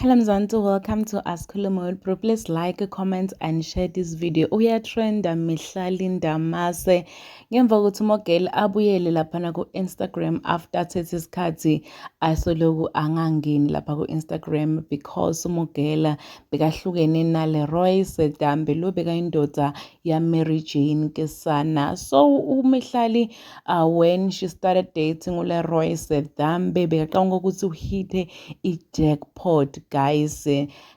Hello Mzansi, welcome to Asikhulume with Bro. Please like, comment and share this video. Uyatrenda mihla linda mase. Ngemva kokuthi umogeli abuyele laphana ku-Instagram after athethe isikhathi asoloku angangeni lapha ku-Instagram because umogela bekahlukene nale Roy Sedambe lo bekayindoda yaMary Jane Kesana. So umihlali uh, when she started dating uleroy sedambe bekacabanga ukuthi uhithe i-jackpot guys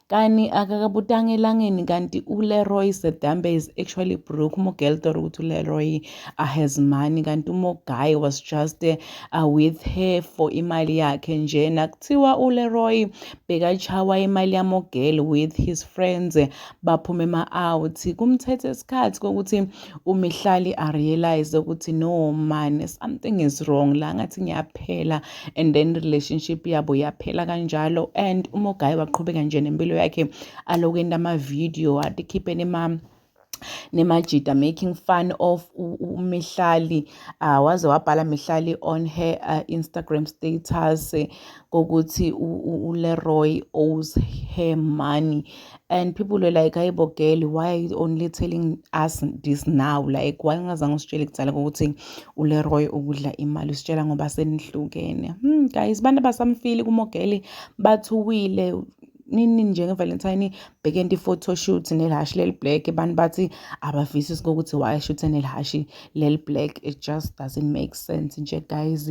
kani akakabutanga elangeni kanti uleroy sedambe is actually brook umogel thought ukuthi uleroy uh, has money kanti umoguy was just uh, with her for imali yakhe nje nakuthiwa uleroy bekachawa imali yamogel with his friends baphume ema-out kumthethe isikhathi kokuthi uma ihlali i realize ukuthi no man something is wrong la ngathi ngiyaphela and then relationship yabo yaphela kanjalo and uma ugayi waqhubeka nje nempilo yakhe aloku enda ama-video atikhipheni ma nemajida making fun of umihlali uh, waze wabhala mihlali on her uh, instagram status kokuthi uLeroy owes her money and people were like hayi bo girl why are you only telling us this now like why ungazange usitshele kudala ukuthi uLeroy ukudla imali usitshela ngoba senihlukene hmm guys abantu abasamfili kumogeli bathuwile nini njengevalentine bhekenti i-photoshoot nelhashi leli-black abantu bathi abavisisi kokuthi why ashuthe nelhashi leli-black it just doesn't make sense nje guys